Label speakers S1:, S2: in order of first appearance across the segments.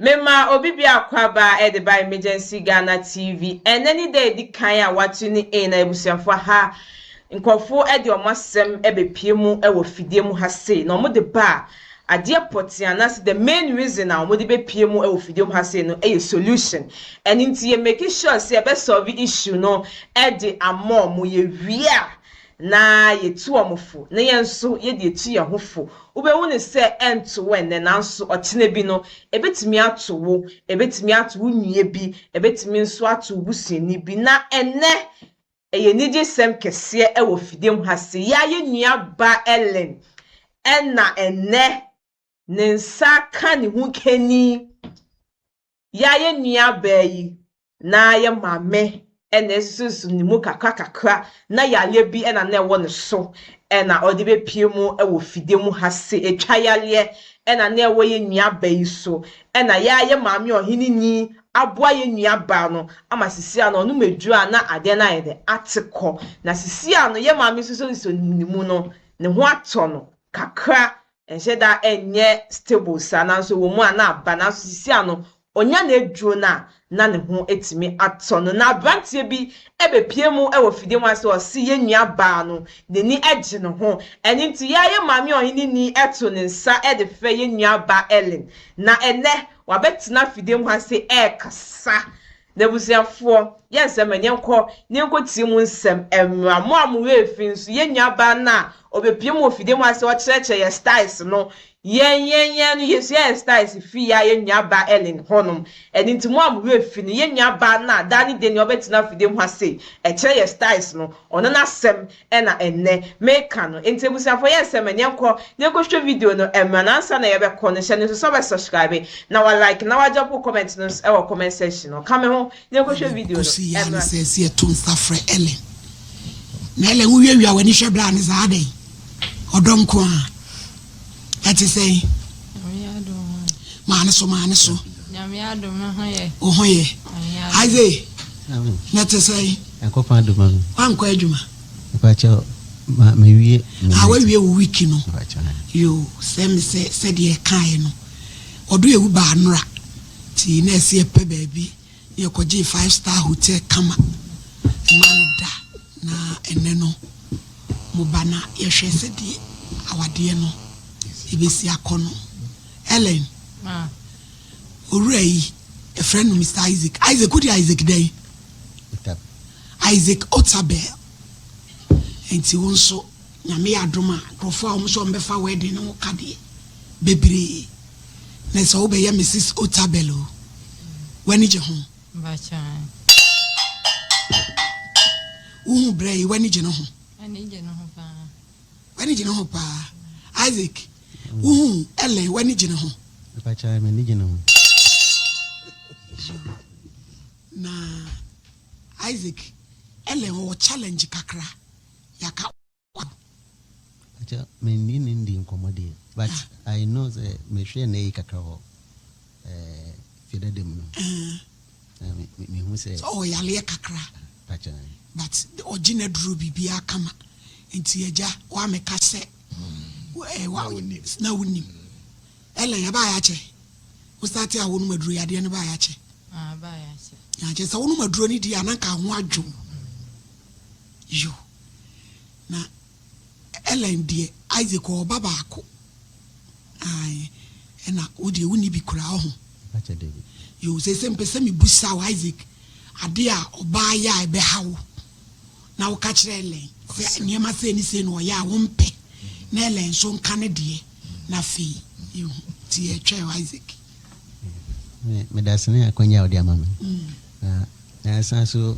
S1: Memaa obi bi akwaaba de baa Emergency Ghana TV. Ɛnnɛ ne da a edi kan a wɔato no ei na abusuafo aha nkurɔfo de wɔn asɛm bepue mu wɔ fidie mu ha sei na wɔde ba a, adeɛ pɔtee anaasɛ the main reason a wɔde bepue mu wɔ fidie mu ha sei no yɛ solution. Ɛno nti yɛ make sure sɛ yɛbɛ solve issue no de ama wɔn. Yɛwie a, na yetu wɔn fo, na yɛn nso yɛde atu yɛn ho fo. Wubehu no sɛ ɛnto wo nnɛ, nanso ɔkyena bi no, ebetumi ato wo. Ebetumi ato wo nua bi, ebetumi nso ato wo busuani bi. Na ɛnnɛ, ɛyɛ anigyesɛm kɛseɛ wɔ fidam ha sɛ yɛn ara yɛn nuabaa Ellen na ɛnnɛ ne nsa ka ne ho nkanni Yɛ a yɛn nuabaa yi na yɛ maame na esusuw ne mu kakrakakra na yareɛ bi na na ɛwɔ ne so na ɔde bɛpue mu wɔ fidie mu ha se ɛtwa yareɛ na na ɛwɔ yɛn nuabaa yi so na yɛ a yɛ maame ɔheneni aboa yɛn nuabaa no ama sisi a na ɔnom aduro a na adeɛ no ayɛ dɛ ate kɔ na sisi a no yɛ maame nso sɛ ɔsɔ ne mu no ne ho atɔ no kakra ɛnhyɛ da nyɛ stable saa nanso ɛwɔ mu a na aba nanso sisi a no ɔnya n'aduro no a na ne ho atumi atɔ no na aberanteɛ bi ɛbɛpie mu ɛwɔ fidie mu ase ɔse yɛn nua baa no n'ani agye ne ho ɛne nti yɛ a yɛ maame ɔhene ni ɛto ne nsa ɛde frɛ yɛn nua baa Ellen na ɛnɛ wabɛtena fidie mu ase ɛɛkasa N'abusuafoɔ, yɛn sɛ ma yɛnkɔ na yɛnkɔtie mo nsɛm mmra. Mo a mo werɛ fi nso, yɛn nuabaa no a ɔbɛpue mo wɔ fidie mu ha sɛ ɔkyerɛkyerɛ yɛn styles no, yɛn, yɛn, yɛn no, yɛsua yɛn styles firi yɛn a yɛn nuabaa Ellen hɔnom. Ɛno nti, mo a mo werɛ fi no, yɛn nuabaa no a daa ne dɛn ni ɔbɛtena fidie mu ha sei, ɛkyerɛ yɛn styles no, ɔno n'asɛm Ɛna ɛnnɛ meka no. Enti abusuafoɔ yɛ nsɛm ma yɛnkɔ na yɛnkɔhwɛ video no mmra na ansa na yɛbɛkɔ no hyɛ no nso sɛ wobɛ subscribe na wa like na wa drop wo comment no nso wɔ comment section no ka me ho na yɛnkɔhwɛ video no mmra. Ɔsi yɛa ne sɛ yɛto
S2: nsa frɛ Ellen na Ellen wowiawia w'ani hwɛ bra ne saa adɛn ɔdɔ nkoaa. Ɛte sɛn? Maa no so, maa no so.
S3: Wo ho yɛ.
S2: Isaac, na ɛte sɛn? Ɛkɔfa adwuma no.
S4: Wankɔ adwuma.
S2: Mpakyɛ
S4: ma mewie. A wawie wo wiki
S2: no. Yo, sɛ me sɛ sɛdeɛ ɛkaeɛ no. Ɔdo ewu baa nora. Ti na ɛsi ɛpɛ baabi. Yɛkɔgyee five star hotel kama ɛmaa no da na ɛnnɛ no mo ba na yɛhwɛ sɛdeɛ awadeɛ no ɛbɛsi akɔ no. Ellen, owura yi ɛfrɛ no Mr. Isaac. Isaac, wode Isaac dɛn? Isaac Otabel. Nti wo nso nyame yɛ adom a nkurɔfoɔ a wɔn nso wɔbɛfa wedding no ho kadeɛ bebree. na sɛ wobɛyɛ Mrs. Otabil o, w'ani gye ho.
S3: Wohu
S2: berɛ yi, w'ani gye ne ho. W'ani gye ne ho paa. W'ani gye ne ho paa. Isaac, wohu Ellen, w'ani gye ne ho. Mpakyɛ, m'ani gye
S4: ne ho.
S2: Na Isaac, Ellen ɔwɔ challenge kakra. Yɛaka.
S4: Akyɛ menni ne ndi nkɔmmɔ deɛ but I know sɛ mehwɛɛ n'ayi kakra wɔ ɛɛ fiedada mu no na me me mehu sɛ sɛ ɔwɔ yareɛ kakra
S2: pakyɛ
S4: but
S2: ɔgye n'aduro biribiara kama nti agya woameka sɛ eh, wa- na wonim ɛlɛ yɛbaa yɛakyɛ wo sate a wonom aduro yadeɛ no baa yɛakyɛ Ah, baa
S3: yɛ akyɛ. akyɛ sɛ wonom aduro
S2: no di a na nka ho adwo Yo. Na Ellen deɛ Isaac ɔwɔ ba baako ae ɛna wo deɛ wonni bi koraa ɔho.
S4: Yo seesei mepɛ
S2: sɛ mebusa wo Isaac adeɛ a ɔbaa yɛ a ɛbɛha wo na woka kyerɛ Ellen sɛ nneɛma sei ne sei na ɔyɛ a wompɛ na Ellen nso nka ne deɛ na afei yɛhu nti yɛtwɛn wo Isaac.
S4: Medase ne akwanya a wode ama me na na ɛsan so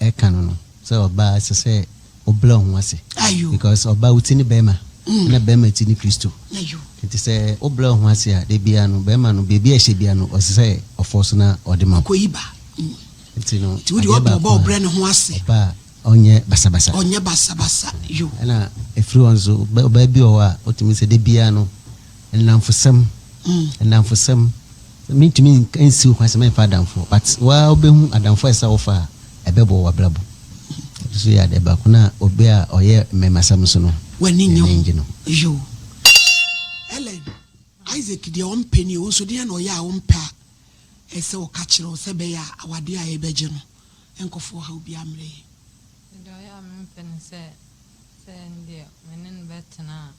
S4: ɛka no no sɛ ɔbaa ɛsɛ sɛ ɔbrɛ ɔho ase because ɔbaa wo ti ne bɛɛma ɛna bɛɛma ti ne kristo nti sɛ
S2: wo
S4: brɛ ɔho ase a da biaa no bɛɛma no baabi a ɛhyɛ biaa no ɔsɛ sɛ ɔfɔ so na
S2: ɔde ma
S4: wo nti
S2: no
S4: adeɛ
S2: baako a ɔbaa
S4: ɔnyɛ basabasa
S2: ɛna ɛfiri
S4: hɔ nso ɔbaa bi wɔ hɔ a ɔtumi sɛ da biaa no Nnamfosɛm, nnamfosɛm, mentumi nsi wo kwan sɛ mɛmfa adamfo, but woa wobɛhu adamfo a ɛsɛ sɛ wofa a ɛbɛboa w'abrabɔ. Ɛno nso yɛ adeɛ baako na obi a ɔyɛ mmɛmasɛm nso no, w'ani nnye ho. N'ani nnye ho.
S2: Yoo. Ellen, Isaac deɛ ɔmpɛ nie, wo nso deɛn na ɔyɛ a wompɛ a ɛsɛ sɛ woka kyerɛ no sɛ ɛbɛyɛ a awadeɛ a yɛbɛgye no nkɔfa ɔhaw biara mmrɛ yɛn? Deɛ ɔyɛ
S3: a mempɛ ne sɛ, sɛ ɛndeɛ me ne no bɛtena a,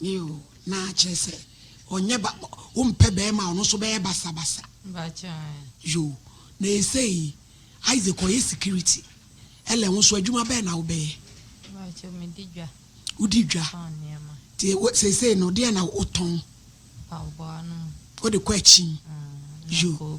S2: Yiw, na kyerɛ sɛ ɔnyɛ ba, wompɛ barima a ɔno nso bɛyɛ basabasa.
S3: Yo,
S2: na ɛsei yi, Isaac ɔyɛ security. Ellen, wo nso adwuma bɛn na wobɛyɛ?
S3: Wodi dwa.
S2: Nti seesei no, deɛn na wotɔn? Wode
S3: kɔ akyin.
S2: Yo,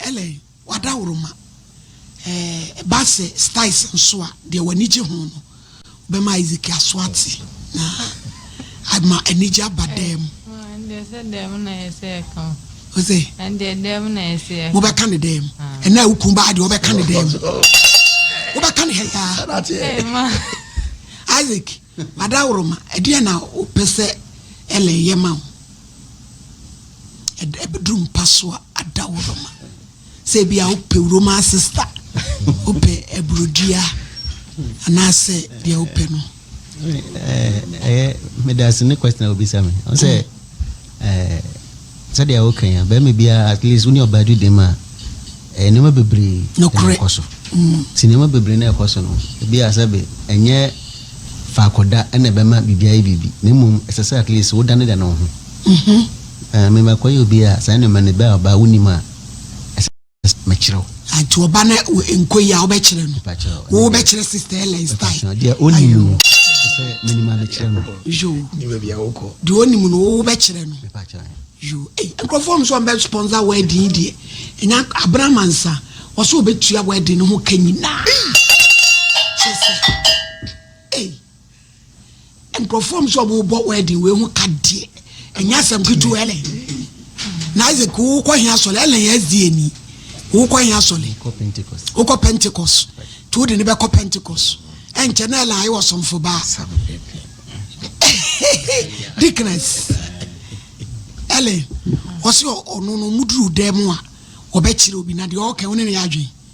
S2: Ellen, W'adaworoma eh, ɛba sɛ styles nso a, deɛ w'ani gye ho no, wobɛma Isaac aso ate na ama anigye aba dan mu. Ɛndeɛ sɛ
S3: dan mu na ɛsɛ yɛka o. Ose. Ɛndeɛ
S2: dan mu na
S3: ɛsɛ yɛka. Mobɛka ne dan mu.
S2: Ɛnna a wokun baa deɛ wobɛka ne dan mu. Wobɛka ne ha yaa.
S3: Isaac,
S2: Adaworoma, ɛdeɛn na wopɛ sɛ Ellen yɛ ma wo? Ɛbɛduru mpa so a, adaworoma. Sɛ ebia wopɛ wo Roma sista, wopɛ aburudua, anaasɛ deɛ wopɛ no. Ɛyɛ
S4: medase ne question a wobisa me. Ɔsɛ ɛɛ. Sɛdeɛ wo ka yi a barima biara at least wo ne ɔbaa di dɛm a ɛyɛ nneɛma bebree na ɛkɔ so
S2: nti nneɛma
S4: bebree na ɛkɔ so no ebi a sɛbe ɛnyɛ faako da na ɛbɛma biribi ayɛ biribi na mmom ɛsɛ sɛ at least wo da ne da ne wo ho ɛɛ me makɔyɛ obi a saa nneɛma no bɛ a ɔbaa wo nim a ɛsɛ Mekyerɛ wo. Nti ɔba
S2: na nkɔ yi a wobɛkyerɛ no wobɛkyerɛ sister Ellen style deɛ ɔnim no
S4: sɛ menim a mekyerɛ no
S2: yo
S5: deɛ ɔnim no
S2: wobɛkyerɛ no yo nkurɔfoɔ m sɛ ɔmbɛ sponsor wedding deɛ ɛnya abramansa wɔsɛ wɔbɛtua wedding no ho ka nyinaa kyɛ sɛ Nkurɔfoɔ ɔm sɛ ɔmo bɔ wedding wei ho ka deɛ ɛnyɛ asɛm ketewa ɛlɛ na Isaac wokɔ he asɔre ɛlɛ yɛ SDA ni wokɔ he asɔre wokɔ Pentecost nti wode ne bɛkɔ Pentecost ɛnkyɛ na ɛlɛ ayɛ wɔ somfo baa dickness ɛlɛ ɔsɛ ɔno no muduru dɛ mu a ɔbɛkyerɛ obi na deɛ ɔka wo ne ne yɛ adwen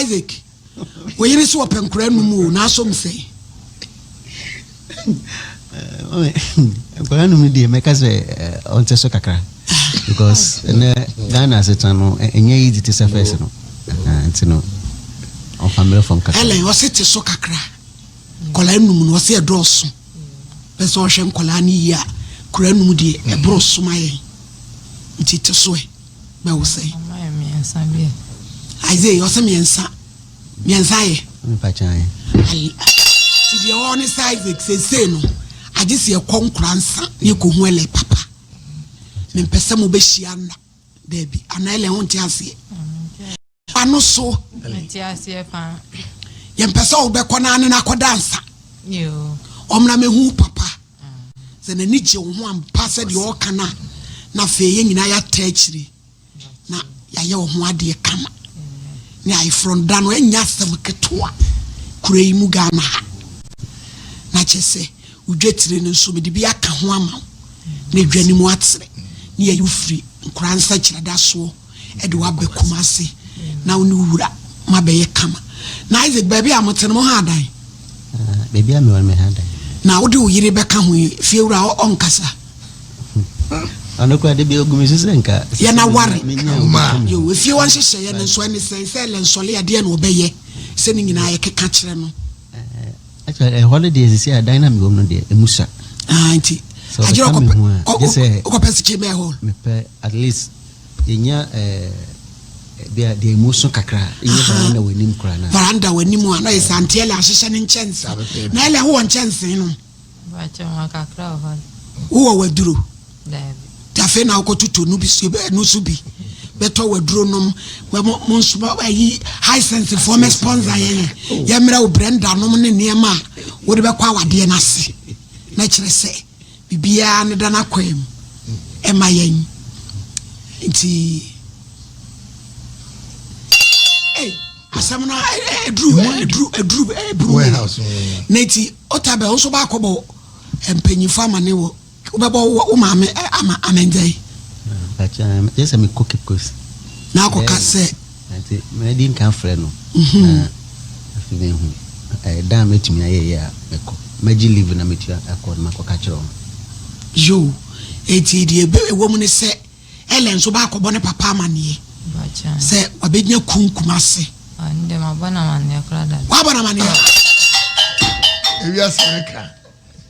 S2: Isaac, wo yere so ɔpɛ nkora num o, n'asom sɛn?
S4: Nkora num no deɛ mɛka sɛ ɔnte so kakra because ɛnɛ Ghana asetena no ɛnyɛ easy te sɛ fɛs no nti no ɔfa mmerɛ fam kakra. Helen ɔse te so kakra
S2: nkɔla num no ɔse ɛdɔɔso pɛ sɛ ɔhwɛ nkɔla no yie a kora num deɛ ɛboro soma yɛn nti te so ɛ. Bɛ wo sɛ. Ɔma yɛ miɛnsa bi ɛ.
S3: Isaiah ɔsɛ
S2: miɛnsa miɛnsa yɛ. Mpa kyan.
S4: Ala.
S2: Ti deɛ ɔɔ ne sɛ Isaac sesei no agye sɛ yɛkɔ nkora nsa ne yɛkɔ hu ɛlɛ papa. Mempɛ sɛ mo bɛ hyia nna. Daabi. Ana ɛlɛ ho nte aseɛ. Ano so. Nti aseɛ
S3: paa. Yɛmpɛ sɛ
S2: wobɛkɔ no ane no akɔda nsa.
S3: Ɔmmra mɛhu wo
S2: papa. Sɛ n'ani gye wo ho ampa sɛ deɛ ɔka no a, na afei yɛn nyinaa yɛata akyiri na yɛayɛ wo ho adeɛ kama. Ne ayeforɔ da no ɛnyɛ asɛm ketewa kura yi mu Ghana ha. Na kyɛ sɛ wodwatire no nso mede bi aka ho ama wo na adwa no mu atere ne yɛyi wo firi nkora nsakyerɛdasoɔ de wo aba Kumasi na wo ne wo wura mo abɛyɛ kama. Na Isaac, baabi a mote no, mo ha adan? Ah, baabi a
S4: mewɔ no, me ha adan. Na wode wo yere bɛka
S2: ho yi, fiewura a ɔnkasa?
S4: ɔno kora de bi ogu me so sɛ nka yɛna ware
S2: yo efie wa nhyehyɛeɛ no nso ɛne sɛn sɛ ɛlɛ nsɔle adeɛ na ɔbɛyɛ sɛ ne nyinaa yɛkeka kyerɛ no eh,
S4: ɛhɔ no deɛ sisi adan na mewɔ mu no deɛ ɛmu sa ah, nti
S2: agyerɛ wokɔpɛ sikyi bɛɛ hɔ mepɛ at least
S4: Yɛnya eh, deɛ deɛ mu so kakra yɛ varanda wɔ anim koraa na. Varanda wɔ anim a na yɛ
S2: sɛ anteɛ lɛ ahyehyɛ ne nkyɛnse na ɛlɛ howɔ nkyɛnse no.
S3: Wowɔ waduro. Tafe na wokɔtoto
S2: no bi so ɛno so bi bɛtɔ waduro nom mo nso ayi hisense foɔ mɛ sponsor yɛn yɛ oh. yɛmmerɛ wo brɛnda nom ne nneɛma a wode bɛkɔ awadeɛ no ase na kyerɛ sɛ biribiara no da n'akwan mu ma yɛn. Nti, ei, asɛm no aduru aduru aduru aburu na nti ɔtabɛ wo nso baakɔbɔ mpanyinfo amane wɔ wobɛbɔ wo maame ama amɛndɛn. Ɛkyɛ
S4: sɛ mekɔ kipkosi. Na akɔka
S2: sɛ. Enti madi
S4: nka frɛ no na afei mahu da a mɛtumi ayɛ yɛ a mɛkɔ. Mɛgye leave na metua akɔ na makɔka kyerɛ wɔn. Yo,
S2: enti deɛ ɛwɔ mu ne sɛ Ellen nso bɛakɔbɔ ne papa amanneɛ sɛ
S3: wabɛnya
S2: kun Kumase. Ɛnde mabɔ no
S3: amanneɛ koraa dada. Wabɔ no amanneɛ?
S5: Ewiase reka.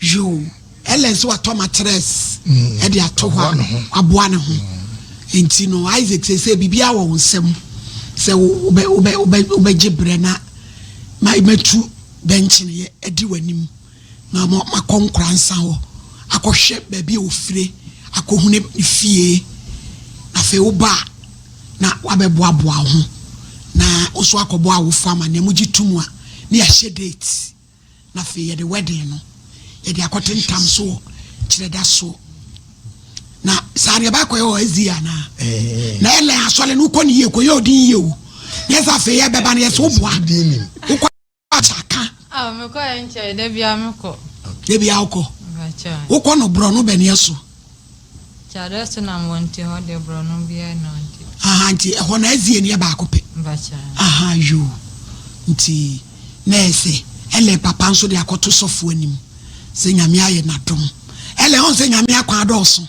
S2: yoo ɛlɛn sɛ watɔ matress ɛde mm. ato hɔ a aboa ne ho mm. nti no isaac sɛ sɛ biribi awɔ wo nsɛm sɛ wobɛ wobɛ wobɛ wobɛgye brɛ na ma matu bɛnkye no yɛ ɛdi w'anim na ma makɔ nkora nsa hɔ akɔhwɛ baabi a ofire akɔhune fie afei woba a na wɔabɛboaboa wo ho na wo so akɔbɔ awofo amanneɛ. Mogye to mu a, na yɛahyɛ date, na afei yɛde wedding no yɛde akɔtentam so wɔ Kyerɛdasoɔ. Na saa deɛ baakɔyɛ wɔ SDA anaa? Na ɛlɛn asɔre no wokɔ ne yie kɔyɛ odin yie o. Na yɛsɛ afei yɛbɛba no yɛsɛ woboa. Church aka. Ah me kɔ yɛ
S3: nkyɛe da bia me kɔ. Da bia wo kɔ.
S2: Wo kɔ no brɔno bɛni ɛso. Kyadɛ
S3: so nam wɔ nti hɔ deɛ brɔno bia ɛni hɔ nti. Ahaa nti ɛhɔ no
S2: ɛzi ɛni ɛbaako pɛ. Ahaa
S3: yoo
S2: nti na ɛsɛ ɛlɛ papa nso de akɔ to sɔfo anim sɛ nyame ayɛ na dom ɛlɛ ɔn sɛ nyame akwan adɔɔso.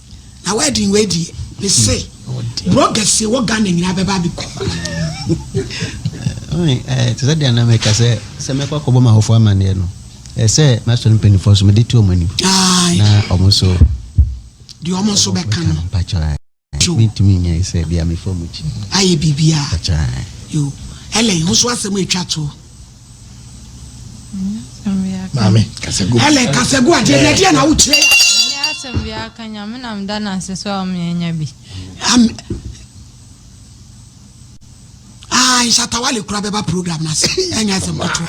S2: Na wedding wei deɛ me se bloggers se wɔ Ghana nyinaa bɛba abɛku.
S4: Eh, te sɛ deɛ na meka sɛ sɛ mɛkɔ akɔbɔ ma ahɔfoɔ amanneɛ no eh, sɛ masɔre mpanimfoɔ so mede to ɔm anim na ɔmo nso deɛ
S2: ɔmo nso bɛka no mpakyɛ
S4: mentumi nyɛ sɛ bia mefa mu kyi ayɛ biribiaa
S2: yo ɛlɛn ho so asɛm atwa toɔ Maame Kasegu. Helen
S5: Kasegu adeɛ na ɛdeɛ na wokyerɛ yɛ. Ɛnyɛ asɛm bi aka nyame
S2: na
S3: meda no ase sɛ ɔmeɛnya bi. Ah, nsatawale kura bɛba program no ase ɛnyɛ asɛm kɔtoɔ.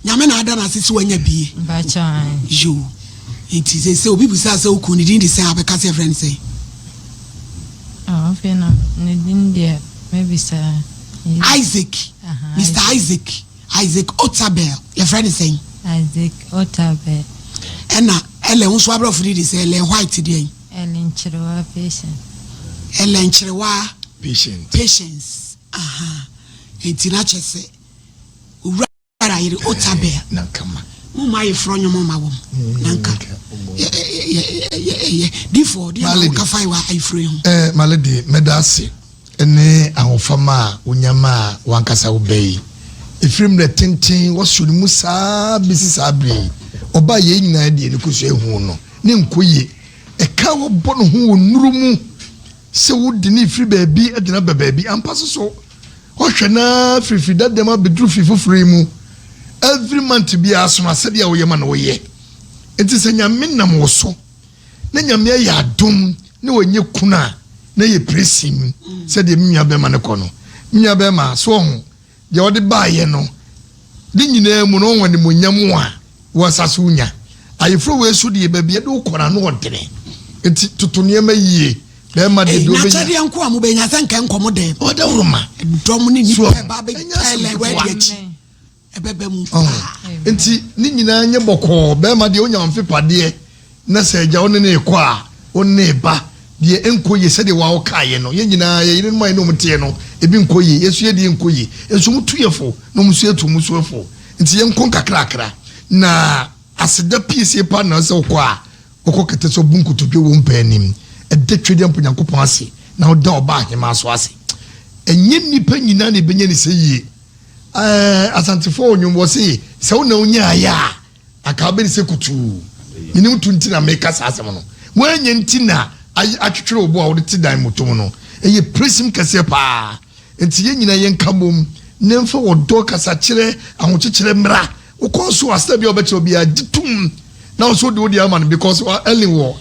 S3: Nyame na ada no ase sɛ wanya bie. Yo.
S2: Nti sɛ sɛ obi busaa sɛ wokuu ne din de sɛ abɛka sɛ ɛfrɛ no sɛ. Afei
S3: na ne din deɛ mɛbisaa. Isaac,
S2: Mr. Isaac, Isaac Otabel, yɛfrɛ no sɛn? Isaac
S3: Otabel. Ɛna
S2: ɛlɛ nso abrɔfo de de sɛ ɛlɛ white deɛ yi. Ɛlɛ nkyerewa
S3: patient. Ɛlɛ nkyerewa
S2: patient. Patience. Aha. Eti na kyɛ sɛ. Ara yere Otabel na nka ma mo
S5: mu ayeforɔ nnwom
S2: mma wɔn, na nka yɛyɛ difoɔ ɔdeɛ na wɔka fae wɔ ayeforo yi ho. Eh, Maledi, mɛda ase
S5: ne ahofama a wonya ma a wankasa wobɛ yi. Ɛfiri mmerɛ tenten wɔsoro no mu saa bɛsi saa berɛ yi, ɔba a yei nyinaa deɛ ne kɔsua ehu no, ne nkɔyie, ɛka a wɔbɔ no ho wɔ nnuro mu sɛ wode ne firi baabi de no aba baabi, ampa so so Ɔhwɛ no ara firi fie dada mu abɛduru fie foforɔ yi mu. Every month biara sono asɛdeɛ a woyɛ ma no woyɛ. Nti sɛ Nyame nam wo so na Nyame ayɛ adom na wanyɛ kunu a na yɛ presim sɛdeɛ me nua bɛɛma no kɔ no. Me nua bɛɛma so ɔho deɛ wode baayɛ no. Ne nyinaa mu no, wɔn animuonyam a wɔ nsa so nya. Ayeforoyɛ su deɛ, baabi a ɛde wo kɔ no, ano ɔdene. Enti toto nneɛma yie na ɛma deɛ wobɛnya. N'akyɛdeɛ nko a mobɛnya, sɛ nka nkɔm de. Ɔdawuroma. Dɔm ne nnipa ba bɛtɛlɛ wadi akyi. Ɛbɛba mu paa. Enti ne nyinaa nyɛ bɔkɔɔ, bɛrima deɛ ɔnya ɔmfepadeɛ. Na sɛ agya wo ne no rekɔ a, wo ne ne ba deɛ ɛnkɔ yie sɛdeɛ wo ara wokaeɛ no. Yɛn nyinaa, yɛn yerenom a yɛne wɔn teɛ no, ebi nkɔ yie. Yɛn nso yɛn deɛ nkɔ yie. Yɛn nso wɔtu yɛn fo, na wɔn nso yɛtu wɔn so fo. Enti yɛnkɔ nkakrakra, na aseda piesie paa na ɛwɔ sɛ wokɔ a, wokɔ kɛtɛ sɛ wobu nkotodwe wɔ wo mpaa anim. Ɛda Twɛdeɛ mpo Nyankopɔn ase, na woda Ɔbaa Ahemaa nso ase. Ɛnyɛ nnipa nyinaa na ɛbɛnya no sɛ yie. Ɛɛ, Asantefoɔ wɔ nnwom, wɔse, Sɛ wo na wonyaaeɛ a. Anka wobɛde sɛ kutuu. Menim to nti na meka saa asɛm no. Woanyɛ nti na ayɛ atwetwere wo bo a wode te dan mu tom no. Ɛyɛ presim kɛseɛ pa ara. Enti yɛn nyinaa yɛnka bom na yɛmfa ɔdɔ, kasakyerɛ, ahokyekyerɛ mmra. Wokɔɔ so a, sɛdeɛ bia wobɛkyerɛ obiara, gye tom na wo nso wode wo deɛ ama no because Ellen wɔ.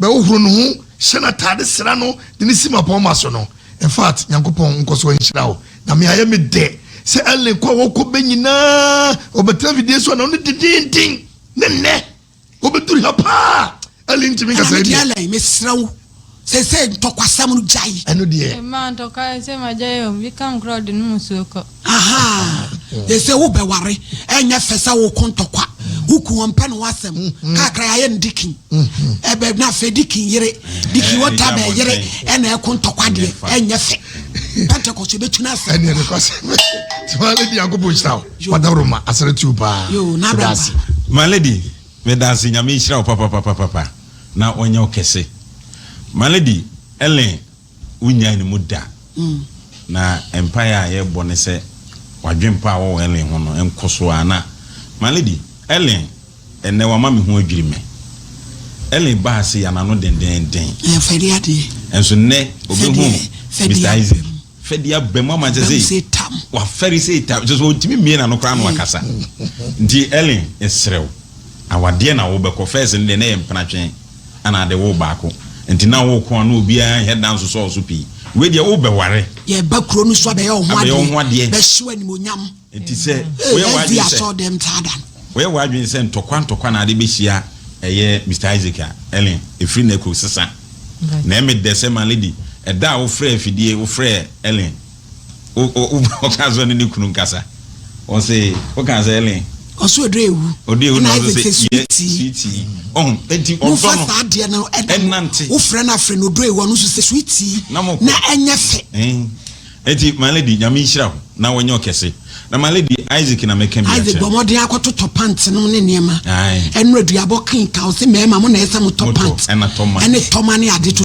S5: bɛhohoro ne ho, hyɛ n'atade, sra no, de no si mmapɔmma so no. In fact, Nyankopɔn nkɔ so nhyira wo. Na me ayɛ me dɛ sɛ Ellen kɔ a wɔkɔ bɛ nyinaa wɔbɛtena fidie so anadwo dendeenden. Ne nnɛ, wɔbɛduru ha paa. Ellen ntumi nkasa Ɛna me deɛ deɛ. Ellen, mesrɛ wo, seesei ntɔkwasɛm no gyae. Ɛno deɛ. Mmaa ntɔkwa ɛsɛ
S3: magyae o, bi ka nkorɔ ɔde nom nsuo kɔ. Ahaa,
S2: ɛsɛ wo bɛ ware, ɛnyɛ fɛ sɛ wo ko ntɔkwa, wo ku wɔn pɛ no wasɛm, mm-hmm. kakra yɛ no dikin, mm-hmm. ɛbɛ na fɛ dikin yere, dikin wɔ ta bɛ yere, ɛna ɛko ntɔkwa deɛ, ɛnyɛ fɛ. Pentecost yɛ bɛ tuna asɛm. Ɛni ɛni kɔsɛ, ti maa lady yanko bɔ nhyira o, wadawuro ma asɛrɛ tiw paa. Yoo, n'abɛn ba. Maa lady,
S6: mɛ dansi nyame nhyira o papapapapa, na wɔnyɛ o kɛse. Maa lady, ɛlɛn. Wonnyae ne mu da. Na mpae a yɛbɔ ne sɛ w'adwempa a wɔwɔ Ellen ho no nkɔ so ara. Na, my lady, Ellen, ɛnnɛ wama me ho adwiri me. Ellen baa ase yan ano dendeenden. Ɛɛ, fa di adeɛ. Nso nnɛ ɔbɛhu Mister Isaac. Fa di aba mu ama kyerɛ sɛ wafɛre sɛ tam. Kyerɛ sɛ ɔntumi mmie n'ano koraa na wakasa. Nti, Ellen, yɛsrɛ wo, awadeɛ na wobɛkɔ. First no deɛ, na ɛyɛ mpenatwe. Ana ade wo baako nti na wo ko a na obiara nhɛ da nsosɔw so pii? Wei deɛ wo bɛ ware. Yɛ ba kuro no so abɛyɛ wo ho adeɛ. Abɛyɛ wo ho adeɛ. Bɛ hyew animonyam. Nti sɛ woyɛ w'adwene sɛ. Ɛdi asɔ dɛm taa da no. Woyɛ w'adwene sɛ ntɔkwa ntɔkwa na ade bɛ hyia ɛyɛ Mister Isaac a, Ellen, efiri na ɛkɔ sesa. Na ɛmɛ dɛ sɛ ma lady, ɛda a wo frɛ afidie, wo frɛ Ellen, ɔka sɛ ɔne ne kunu nkasa ɔse woka sɛ ɛlen ɔso ɔdɔ ewu ɔdɔ ewu na ɔse sɛ yɛ suitii ɔho eti ɔdɔ no wofa saa adeɛ no ɛnante wofrɛ no afrɛ no ɔdɔ ewu ɔno nso sɛ suitii na ɛnyɛ fɛ eti my lady nyame nhyira ho na wɔnyɛ ɔkɛse na my lady isaac na mɛka bi akyɛ isaac bɔmɔden akɔtotɔ pant no ne nneɛma ɛno aduabɔ kenka ɔse mɛɛma mo na ɛsɛ mo tɔ pant ɛne tɔma ne ade to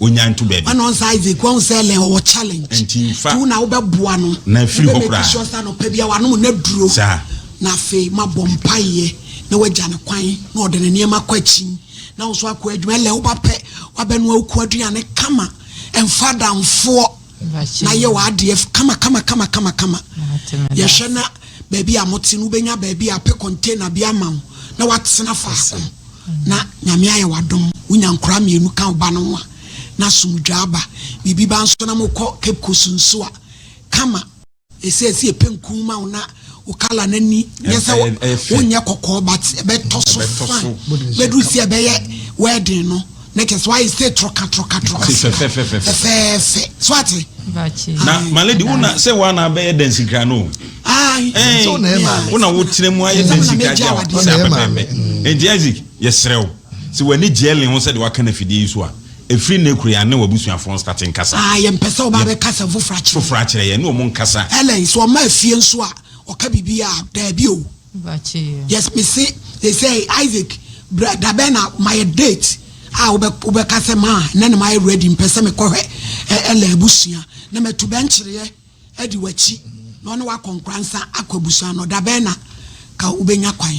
S6: onya nto baabi. Ɔno nsa Isaac wahu sɛ lɛn ɔwɔ challenge. Nti nfa. Tu na wobɛboa no. Na afiri hɔ koraa. Wobɛ make sure sɛ anɔpa bi a wanom n'aduro. Saa. Na afei mabɔ mpaeɛ na wagya no kwan na ɔde ne nneɛma akɔ akyi na wo nso akɔ adwuma. Ɛlɛn woba pɛ wabɛnoa wo kuo aduane kama. Mfa adamfoɔ. na yɛ w'adeɛ kama kama kama kama kama yɛhwɛ na baabi a mote no wobɛnya baabi a pɛ container bi ama wo na watena faako na nyame ayɛ wadom wonya nkora mmienu ka woba no ho a na asomdwa aba biribi ba nso na mokɔ cape coast nso a kama Ɛsɛ sɛ yɛpɛ nkuu ma wo na wo kala no ani nyɛ sɛ wonyɛ kɔkɔɔ but ɛbɛtɔ so fine bɛduru sɛ ɛbɛyɛ wedding no na kyɛ
S2: sɛ woayɛ sɛ troka troka troka fɛfɛɛfɛ so ate na
S3: maledi wo na
S6: sɛ woana bɛyɛ dansikra no
S5: wo na wotena mu ayɛ
S6: dansikra gya wo sɛ apɛpɛpɛ ɛnti isaac yɛserɛ wo sɛ w'ani gyeɛ le ho sɛdeɛ waka no afidie yi so a Ɛfiri nnɛ kura yi, anne w'abusuafoɔ nstate nkasa. Aah, yɛmpɛ sɛ wɔba abɛka
S2: asɛm foforɔ akyerɛ yɛn. Foforɔ akyerɛ yɛn, ɛne wɔn nkasa.
S6: Helen, sɛ wɔma afie
S2: nso a, wɔka biribi a? Daabi o. Bakyeyɛ. Yes,
S3: mese,
S2: seesei, Isaac, bra, da bɛn na mayɛ date a wobɛ, wobɛka sɛ, maa, nnɛ na mayɛ ready, mpɛ sɛ mekɔhwɛ Ɛ, Ellen abusua, na matu bɛnkyereɛ. adi w'akyi na ɔne wo akɔ nkoransa akɔ abusua no, da bɛn na ka wobɛnya kwan?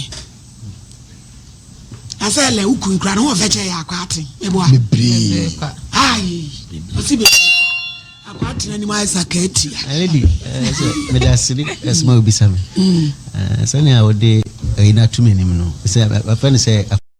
S2: Na sɛ ɛlɛ wo kun kura no, ho ɔbɛkyɛ yɛ akɔ aten. Meboa. Bebree. Ayi. Ɔsi bebree. Akɔ aten anim ayɛ sa ka atia. Lady, eh,
S4: sɛ mede asere ɛsoma wobisa me. Mm. Eh, sɛnea wode ayi eh, no ato m'anim no, sɛ bɛfɛ no sɛ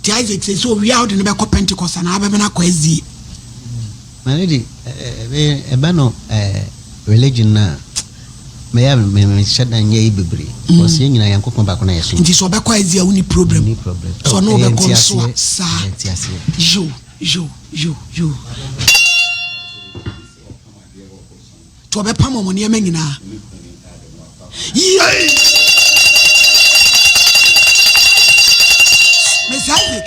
S2: Nti Isaac sɛ sɛ owia wode no bɛkɔ Pentecost anaa bɛbɛ no akɔ SDA. My
S4: lady, ɛba no religion no a, mɛyɛ mehyɛ da nyɛ yi bebree because yɛn nyinaa Nyankopɔn baako na yɛsom. Nti sɛ ɔbɛkɔ SDA wonni
S2: problem, sɛ ɔne wobɛkɔ nso a saa. Yo, yo, yo, yo. to ɔbɛpam wɔn nneɛma nyinaa yie mesi isaac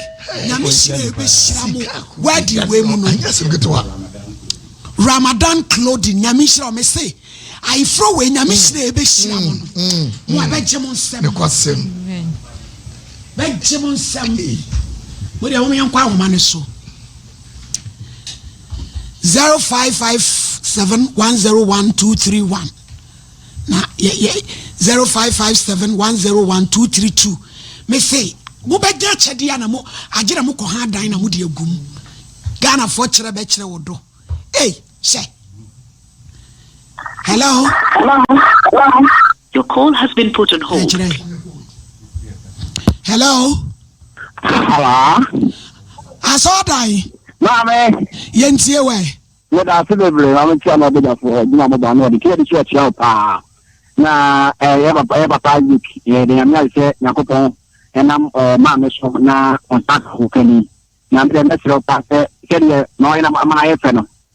S2: nyame hyira ɛbɛhyira mo wadi wei mu no ramadan clothing nyame hyira ɔme se ayeforo wei nyame hyira ɛbɛhyira mo no mo a bɛgye mo nsɛm bɛgye mo nsɛm mo deɛ wɔn yɛn kɔ ahoma no so zero five five seven one zero one two three one na yɛ yɛ zero five five seven one zero one two three two mese mobɛgye akyɛdeɛ a na mo agye na mokɔ ha adan na mode agu mu ghanafoɔ kyerɛ bɛkyerɛ wo do ei hyɛ Hello.
S7: Your call has been put on hold.
S2: Hello. Hello. Asɔɔdan. Maame.
S8: Yɛn tie wɛ.
S2: Yɛ da ase bebree
S8: maame tia na ɔbɛ dafo hɔ gyina mo ba na ɔde kí ɛde so ɛkyia o paa na ɛyɛ eh, papa ɛyɛ papa yik ɛyɛ de nyame ayɛ sɛ nyakopɔn ɛnam ɛɛ eh, maame so na ɔnsa ko kani na mbɛ mɛsirɛ pa sɛ sɛdeɛ na ɔyɛ na ama ayɛ fɛ no.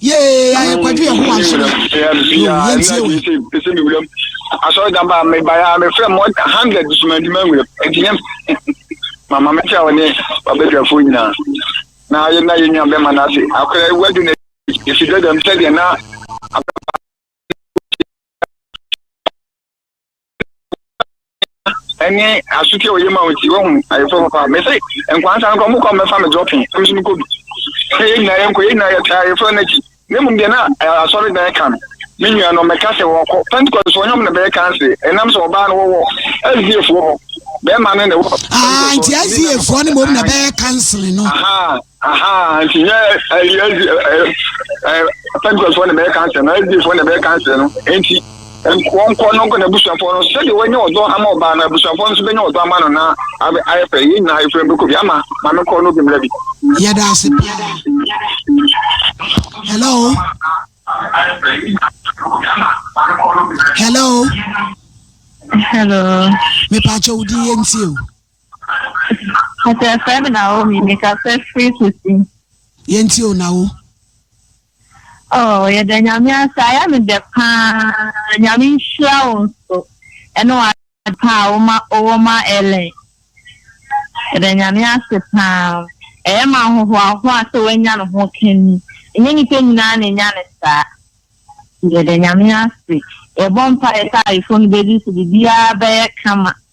S2: yee ayɛ kwadwo yɛ ho anso no yɛntie wɛ
S8: ɛsɛ me wuram asɔre da ba me ba ya me frɛ mo hundred so ma ndima wuram ɛti yɛm mama me kyɛ wɔne babɛdwafoɔ nyinaa na yɛ na yɛ nua bɛma no ase akora wadu na ɛsi dɛdɛm sɛdeɛ na abɛma ɛne asotwe a ɔyɛ ma wo nti wahu ayefo papa mese nkwansa nkɔ mokɔ mɛfa me dɔpe ɛm so mekɔ bi sɛ yɛ nyinaa yɛnkɔ yɛ nyinaa yɛtaa ayefo no akyi na mmom deɛ na asɔre dan ka no me nua no mɛka sɛ wɔkɔ pentecost so ɔnyɔm na bɛyɛ kanse ɛnam sɛ ɔbaa no wɔwɔ aziefoɔ hɔ bɛrima no na ɛwɔ nti aziefoɔ
S2: no mmom na bɛyɛ kanse no Aha,
S8: nti nyɛ ɛyi ɛdi ɛɛ pɛntɛsfoɔ na bɛyɛ kansɛn no ɛdifoɔ na bɛyɛ kansɛn no nti wɔn kɔ no nkɔ na abusuafoɔ no sɛdeɛ wɔnyɛ ɔdɔ ama ɔbaa no abusuafoɔ no nso bɛnyɛ ɔdɔ ama no na abɛ ayɛ pɛ yɛn nyinaa efura bɛkɔ bi ama maame kɔ no bi mmerɛ bi. yɛda ase paa
S2: hello hello hello mepaakyɛ wo din
S7: yɛntie
S2: o
S9: Ɔsɛ ɛfrɛ me Naomi, mekasa firi Susi. Yɛntie o Nao. Oh, yɛda Nyame ase, ayɛ me dɛ paa, Nyame nhyira wo nso, ɛne w'ade pa a woma wowɔ ma Ellen. Yɛda Nyame ase paa, ɛyɛ me ahohoahoa sɛ w'anya ne ho ka ni, ɛnyɛ nipa nyinaa na ɛnya no saa. Yɛda Nyame ase, yɛbɔ mpaeɛ sɛ ayefo no bɛdi so, biribiara bɛyɛ kama.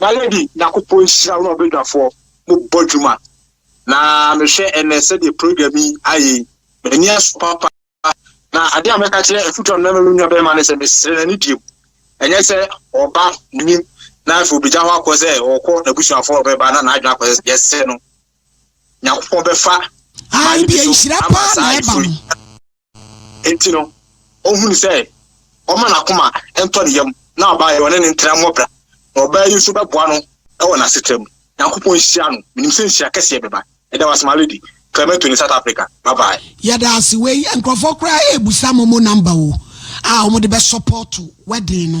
S10: M'ayɛ bi Nyankopɔn nhyira wo ne ɔbɛdwafoɔ mo bɔ dwuma na mehwɛ ɛnɛ sɛdeɛ program yi ayɛ yi m'ani aso papa na adeɛ a mɛka kyerɛ afutuo a mɛma me nua bɛrima ne sɛ mesrɛ na ne diem ɛnyɛ sɛ ɔba nim na afei obɛgya hɔ akɔ sɛ ɔkɔ n'abusuafoɔ ɔbɛba na n'adwene akɔ sɛ yɛsrɛ no Nyankopɔn bɛfa Ayi bi nhyira
S2: paa na ɛba no.
S10: Enti no, ohunu sɛ ɔmma n'akoma ntɔ ne yam na ɔbaa yi ɔne no ntena mmɔ bra, na ɔbaa yi nso bɛboa no wɔ n'asetra mu. Nyankopɔn nhyira no. Menim sɛ nhyira kɛseɛ bɛba. Yɛda wo ase my lady. Clemento ne South Africa. Bye bye. Yɛda ase. Wei
S2: nkurɔfoɔ koraa ɛɛbusa momo number o a wɔde bɛ support wedding no.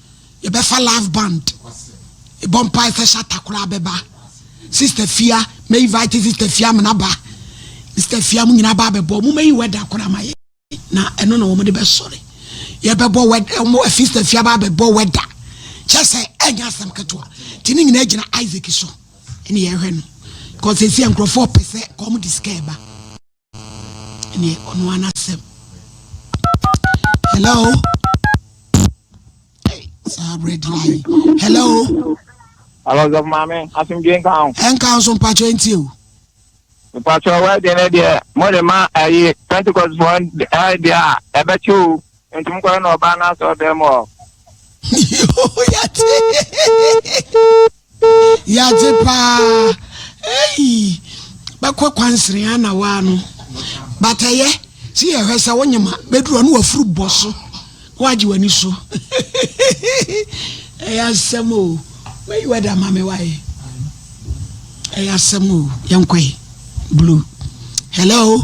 S2: yɛbɛfa live band ɛbɔ mpae sɛ shata koraa bɛba sister fia ma invite sister fia mena ba sister fia mu nyina ba bɛbɔ mo mayi wɛda koraa ma yɛ na ɛno na wɔn de bɛsɔre yɛbɛbɔ wɛda wɔn sister fia ba bɛbɔ wɛda kyɛ sɛ ɛnyɛ asɛm ketewa ti ne nyinaa gyina isaac so ɛne yɛhwɛ no kɔsɛsi nkurɔfoɔ pɛ sɛ kɔn mo de sika ɛba. ɛne ɔno ara n'asɛm hello hey, saa berɛ di nayi hello hello sɛ
S11: maame asomdwe nka ho ɛnka ho so mpakyɛ
S2: nti o
S11: mpakyɛ wɛde ne deɛ mode ma ayi pentecost foɔ deɛ a ɛbɛkyɛ o Nti mokɔyɛ no ɔbaa no asɔɔdan mu ɔ. Yoo yagye
S2: yagye paa eyi bɛkɔ kwansere a na waa no batɛyɛ si yɛ hwɛ sɛ wonyema bɛduru ɔno wafuru bɔ so na wagye w'ani so ɛyɛ asɛm o mɛyi w'ade ama me wae ɛyɛ asɛm o yɛnkɔe blue hello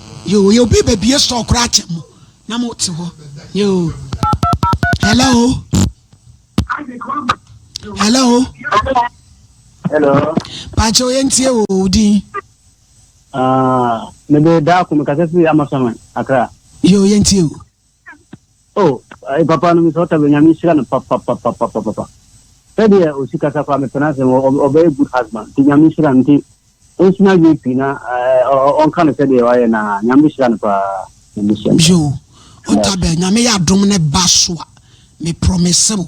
S2: Yoo yɛ obi bɛ bie store koraa kyɛ mo na mo te hɔ yoo hello hello
S12: hello pàtó
S2: yẹn ti yẹ wò ó dín.
S12: ne bɛ daa kò mi kasa si ama sɔmi akra. yoo yẹn ti yẹ wò. Oh eh, papa no Mr. Otabil nyame nhyira no papapapapapa sɛdeɛ ɔsi kasa koraa mepɛ no asɛm ɔ- ɔbɛyɛ good husband nti nyame nhyira no nti ɔnsua adwene pii na eh, ɔ- ɔ- ɔnka no sɛdeɛ wayɛ na nyame bɛhyira no paa nyame nhyira no paa yo
S2: Yes. otabel nyame yɛ adom ne ba so a me promise wo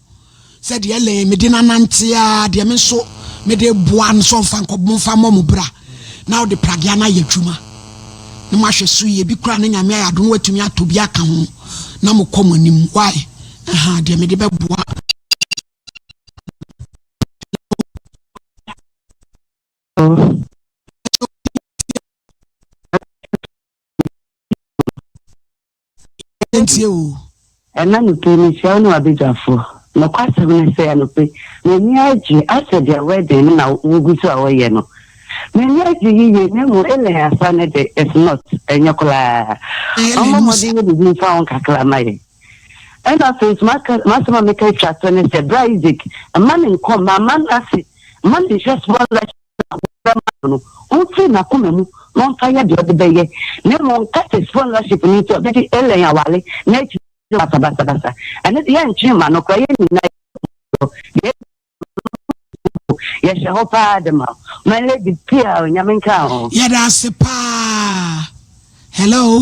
S2: Sɛ deɛ Ellen mede no anante ara deɛ me nso mede boa no sɛ ɔmfa nkɔ momfa mmɔ mo bra na wode pragea no ayɛ adwuma na moahwɛ so yie bi koraa na nyame ayɛ adom watumi atɔ bi aka ho na mokɔ mo anim why ɛha deɛ mede bɛboa
S13: Yɛntie oo. Ɛna nupii mehyia wo ne w'abadwafoɔ. Nokwasɛm ne sɛ anɔpɛ m'ani agye asɛ deɛ wedding no na wogu so a wɔyɛ no. M'ani agye yiye na mmom Ellen Asah no de it's not, ɛnyɛ koraa. Ɔmmɔ mmɔden yɛ biribi mfa ho kakra mma yɛn. Ɛna afei nso maka m'asɛm a meka atwa to ne sɛ bra Isaac mma ne nkɔ mma mma no ase mma no nhwɛ small life. a wɔfrɛ maa no no, ɔmfiri n'akoma mu na ɔmfa yɛ deɛ ɔde bɛyɛ, na mmom Curtis followership no nti a ɔde di Elaine aware na akyiri yi ɔde aba basabasa. Ɛno deɛ yɛntwee mma no koraa, yɛn nyinaa yɛdi wo dɔ, deɛ ɛbɛsi wo mpo yɛhyɛ hɔ paa de ma wo. My lady pii a o, Nyame nka wo ho. Yɛda ase paa.
S2: Hello.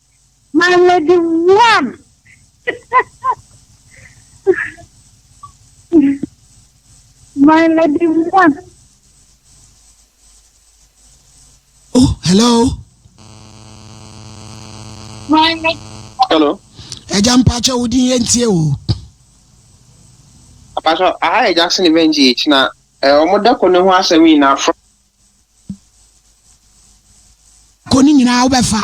S2: My
S14: lady one. My lady one.
S2: Oh, hello.
S14: My lady. Hello.
S10: Ẹja mpacha
S2: wo din yẹn tie o.
S10: Apacha, aha ẹja sin event yi ekyi na ọmọ dẹkọ ne ho asẹm yi na afọ.
S2: kɔ ne nyinaa wobɛfa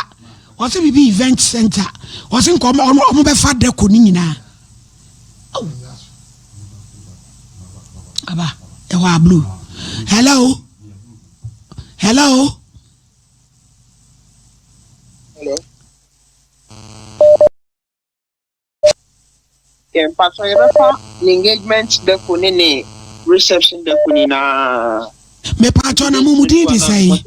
S2: ɔse biribi event center ɔse nka ɔmo bɛfa dɛ kɔ ne nyinaa aba ɛhɔ a blue hello hello hello
S10: Yɛ mpatsɔ yɛbɛfa n'engagement dako ne ne reception dako nyinaa. Mepatwɔ
S2: na mo mu din de sɛn?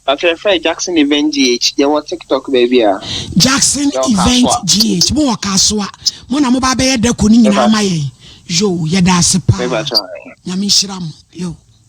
S2: Mpatsɔ
S10: yɛfrɛ Jackson Event GH yɛwɔ TikTok baabi a. Jackson
S2: Event GH mo wɔ Kasoa mo na mo ba bɛyɛ dako ne nyinaa ma yɛn yoo yɛda ase paa nyame nhyira mo yoo.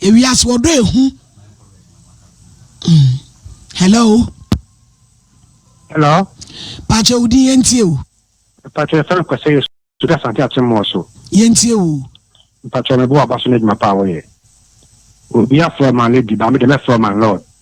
S2: ewiase ɔdɔ ehu mm. hello
S12: hello pakyɛ
S2: wo din yɛntie o pakyɛ fɛn
S12: kwasɛ yɛ so da sante ate mmɔɔ so yɛntie o
S2: pakyɛ mebo
S12: aba so no adwuma paa wɔyɛ obi afrɛ ma lady ba me dɛ mɛfrɛ ma lord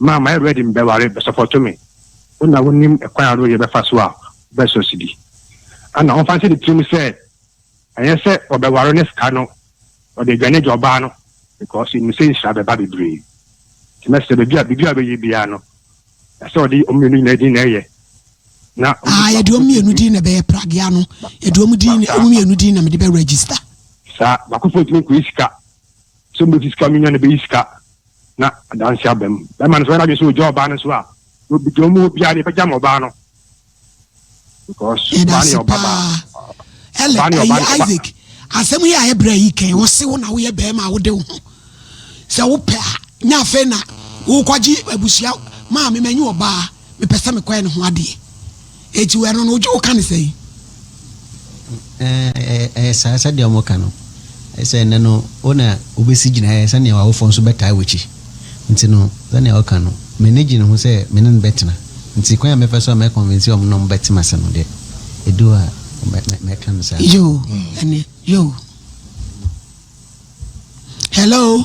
S15: Maa mayɛ ready mebɛware bɛ supporto me Wo na wonim kwan ahorow yɛbɛfa so a wobɛsɔ sidi Ana ɔmfa nhyɛ ne tirim sɛ ɛnyɛ sɛ ɔbɛware ne sika no ɔde aduane agya ɔbaa no Because onim sɛ nhyira bɛba bebree Nti mɛsrɛ baabi a biribi a ɔbɛyɛ biara no ɛsɛ ɔde wɔn mmienu nyinaa din na ɛyɛ na Aah yɛde wɔn mmienu
S2: din na ɛbɛyɛ Pragya no yɛde wɔn din na wɔn mmienu din na mede bɛ register. Saa baako
S15: foɔ ntumi nkɔyi sika sɛ ɔmɛfi sika ɔmenya na ɛbɛyi sika na adanse aba mu. Bɛrima no nso, ɔyɛ n'adwene sɛ ogya ɔbaa no nso a, obegya wɔn mu hɔ biara, deɛ ɛbɛgya ma ɔbaa no. Because ɔbaa no yɛ ɔba baa. Ɔbaa no yɛ ɔba
S2: no ɔba. asɛm yi a ɛbrɛ yi kɛn wo se wo na woyɛ bɛrima a wode wo ho sɛ wopɛ a na afei na wokɔgye abusua maame manyi ɔbaa Mepɛ sɛ mekɔyɛ ne ho adeɛ. Eti ɛno no wogye wo ka ne sɛn?
S4: Ɛyɛ saa sɛdeɛ wɔn ka no sɛ ɛnɛ no wo na wobɛsi gyinaeɛ sɛdeɛ w'awofoɔ nso bɛtaa w'akyi nti no sɛdeɛ ɔka no m'ani gye ne ho sɛ me ne no bɛtena nti kwan a mɛfa so a mɛ convince wɔn na wɔn bɛte m'ase no deɛ ɛdu hɔ a mɛka no saa. Yoo
S2: ɛnɛ yoo. Hello.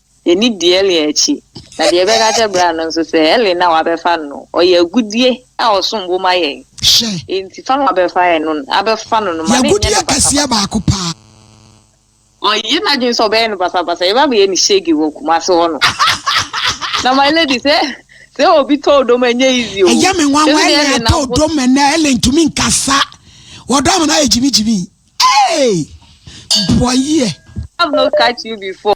S16: Yɛnni di Ellie akyi. Na deɛ yɛbɛka akyerɛ bra no nso sɛ Ellie no a wabɛfa no no, ɔyɛ agudeɛ a ɔsom bo ma yɛn. Hyɛ. Enti fa no a wabɛfa yɛn no no, abɛfa no no, ma no nyɛ no basabasa. Yɛ agudeɛ kɛseɛ baako paa. Ɔyɛ n'adwene sɛ ɔbɛyɛ no basabasa, yɛbɛ abɛyɛ no shege wɔ Kumasi hɔ no. Na my lady, sɛ, sɛ obi tɔ odom a, ɛnyɛ easy o. Ɛyɛ me nwanwa, Ellie atɔ odom ɛnnɛ, Ellie ntumi nkasa, ɔdɔm no ayɛ gyimigyimi. Eeii! Boayie. Have not catch you before.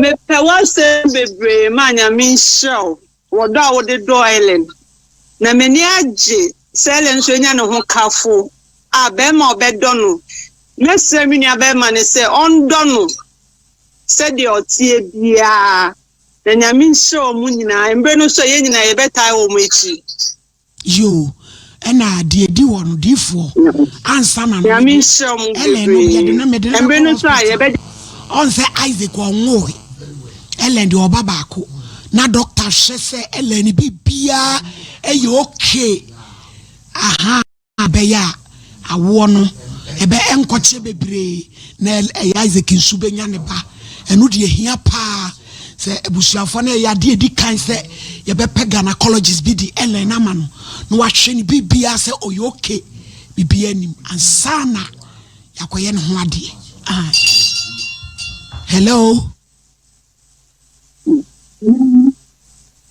S17: Mepɛ w'asɛm bebree ma Nyame nhyira wo wɔ dɔ a wode dɔ Ellen na m'ani agye sɛ Ellen nso anya ne ho kafo a bɛrima a ɔbɛdɔ no. Mɛsrɛ me nua bɛrima no sɛ ɔndɔ no sɛdeɛ ɔteɛ biara na Nyame nhyira wɔn nyinaa. Mberɛ no nso a yɛn nyinaa yɛbɛtaa wɔn akyi. Yoo
S2: ɛna deɛ ɛdi hɔ no difoɔ ansa na no mede
S17: Ellen no deɛ de no mede no bɛkɔ hospital ɔn sɛ
S2: Isaac ɔnwoe Ellen deɛ ɔba baako na dɔkta hwɛ sɛ Ellen bibiaa ɛyɛ okay ahaa bɛyɛ a Awoɔ no, ɛbɛ nkɔkyeɛ bebree na ɛyɛ Isaac nso bɛnya ne ba. Ɛno deɛ ɛhia paa sɛ abusuafoɔ no ɛyɛ adeɛ ɛdi kan sɛ yɛbɛpɛ gynaecologist bi de ɛlɛn ama no na wahwɛ ne biribiara sɛ ɔyɛ okay biribiara nim ansa na yɛakɔyɛ ne ho adeɛ. Ah. Hello.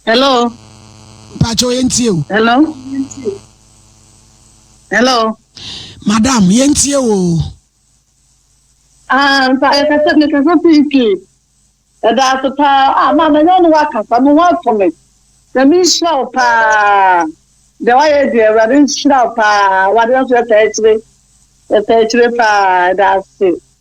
S17: Hello. Mpakyɛ yɛn
S2: tie o. Hello.
S17: Hello. Madam
S2: yɛn tie o. Ah,
S17: nfa ɛkɛ sɛ mekɛ sɛ piiki. Ɛda ase paa. Ah, maa mɛnyɛ ɔno wakasa mo ho ato me. Sɛ me nhyira wo paa. Deɛ wayɛ deɛ awurade nhyira wo paa. Wade nso ɛtaa akyire. Ɛtaa akyire paa. Ɛda ase.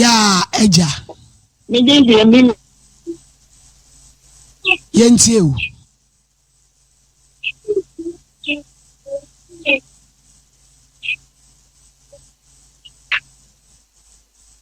S2: yaa agya yɛntie o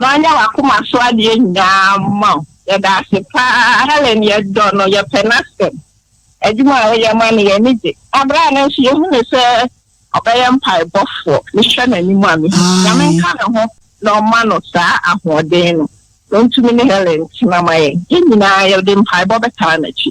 S9: Wanyɛ wakoma so adeɛ nyinaa ma wo. Yɛda ase paa Helen yɛdɔ no yɛpɛ nasɛm adwuma a woyɛ ma no yɛni gye abrɛ a na nso yɛhu no sɛ ɔbɛyɛ mpaebɔfoɔ mehwɛ nanim a mehu Nyame nka ne ho na ɔma no saa ahoɔden no na ɔntumi ne Helen ntena ma yɛn yɛn nyinaa yɛde mpaebɔ bɛtaa nakyi.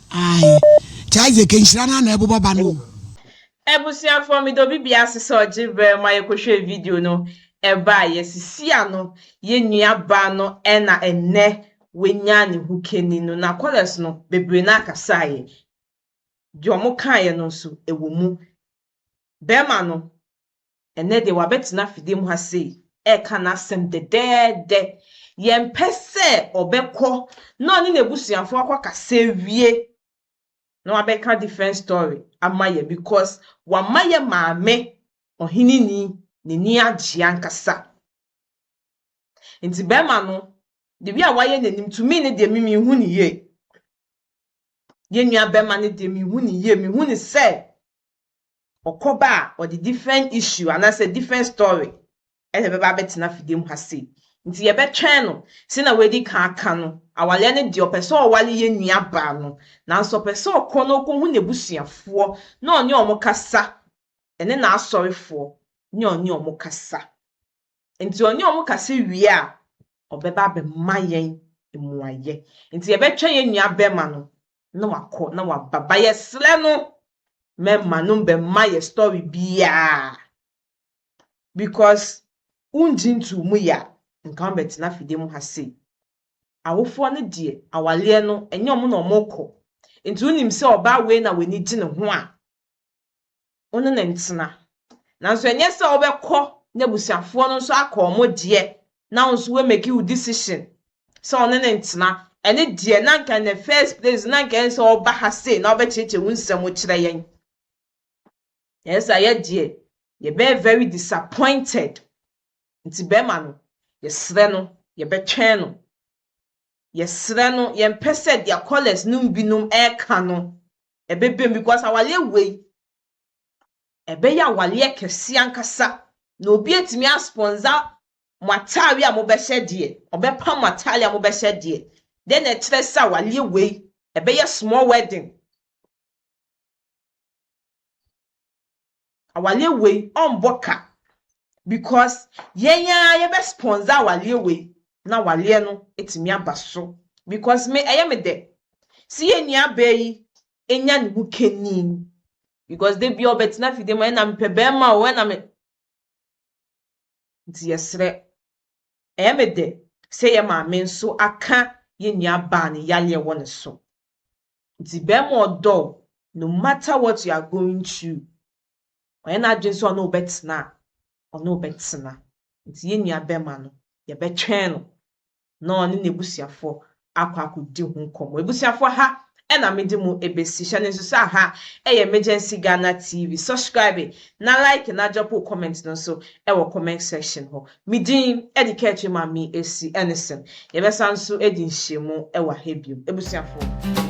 S2: Ae. Nti Isaac nhyira no ara na ɛbobɔ ba no o. Abusuafoɔ
S1: meda obi bia ase sɛ ɔgye berɛ ma yɛ kɔhwɛɛ video no ɛbaa yɛ sisi ano yɛ nua baa no ɛna ɛnɛ wanya ne ho kani no na callers no bebree no ara kasaa yɛ deɛ ɔmo kaa yɛ no nso ɛwɔ mu bɛɛma no Ɛnnɛ deɛ wabɛtena afidie mu ha sei reka n'asɛm dɛdɛɛdɛ. Yɛmpɛ sɛ ɔbɛkɔ na ɔne n'abusuafoɔ akɔkasa awie na wabɛka different story ama yɛn because wama yɛn maame ɔheneni n'ani agye ankasa. Nti bɛrima no, the way a wayɛ n'anim to me no deɛ me menhu ne yie. Yɛn nua bɛrima no deɛ menhu ne yie, menhu ne sɛ ɔkɔ ba a ɔde different issue anaasɛ different story na ɛbɛba abɛtena afidie mu ha sei. Nti yɛbɛtwɛn no sɛnea wadi kan aka no, awareɛ no deɛ ɔpɛ sɛ ɔware yɛn nuabaa no, nanso ɔpɛ sɛ ɔkɔ na ɔkɔhu n'abusuafoɔ na ɔne wɔn kasa, ɛne n'asɔrefoɔ ne ɔne wɔn kasa. Nti ɔne wɔn kasa wie a, ɔbɛba abɛma yɛn mmuaeɛ. Nti yɛbɛtwɛn yɛn nua bɛrima no na wakɔ na waba. Ba yɛsrɛ no mɛma no bɛma yɛ story biara because wongye ntoo mu yɛ a nka wobɛtena afidie mu ha sei. Awofoɔ no deɛ awaleɛ no ɛnyɛ wɔn na wɔkɔ. Nti wonim sɛ ɔbaa wei na w'ani gye ne ho a, wo ne no ntena. Nanso ɛnyɛ sɛ wobɛkɔ n'abusuafoɔ no nso akɔ wɔn deɛ na wo nso woamake wo decision sɛ wo ne no ntena. Ɛne deɛ na anka in the first place na anka ɛnsɛ sɛ woba ha sei na wobɛkyerɛkyerɛ wo nsɛm wokyerɛ yɛn. Ɛyɛ saa yɛ deɛ yɛbɛyɛ very disappointed. Nti bɛrima no, yɛsrɛ no yɛbɛtwɛn no. yɛsrɛ no yɛmpɛ sɛ deɛ callers no mu binom ɛreka no ɛbɛba mu because awaleɛ wei ɛbɛyɛ awaleɛ kɛseɛ ankasa na obi atumi asponsor mo ataare a mobɛhyɛ deɛ ɔbɛpa mo ataare a mobɛhyɛ deɛ dɛn na ɛkyerɛ sɛ awaleɛ wei ɛbɛyɛ small wedding Awaleɛ wei ɔmbɔ ka because yɛn ara yɛbɛ sponsor awaleɛ wei na awaleɛ no atumi aba so because me ɛyɛ me dɛ sɛ yɛn nuabaa yi anya ne ho kanin because da bia ɔbɛtena fie dɛ ma ɛna mepɛ bɛrima o ɛna me nti yɛserɛ ɛyɛ me dɛ sɛ yɛn maame nso aka yɛn nuabaa no yaleɛ wɔ ne so Ntsi bɛrima ɔdɔ wo no matter what you are going through, ɔyɛ n'adwen sɛ ɔne wo bɛtsena a, ɔne wo bɛtsena. Ntsi yɛn nua bɛrima no, yɛbɛtwɛn no na ɔne n'ebusuafoɔ akɔ akɔdi ho nkɔmbɔ. Ebusuafoɔ, ha na medze mo ebesi. Hyɛ no nso sɛ aha yɛ Emergency Ghana TV. Subscribe na like na drop wo comment no nso wɔ comment section hɔ. Me din de Kɛkyere Mame Asi Ennison. Yɛbɛsan nso adi nhyiamu wɔ ha bio. Abusuafoɔ.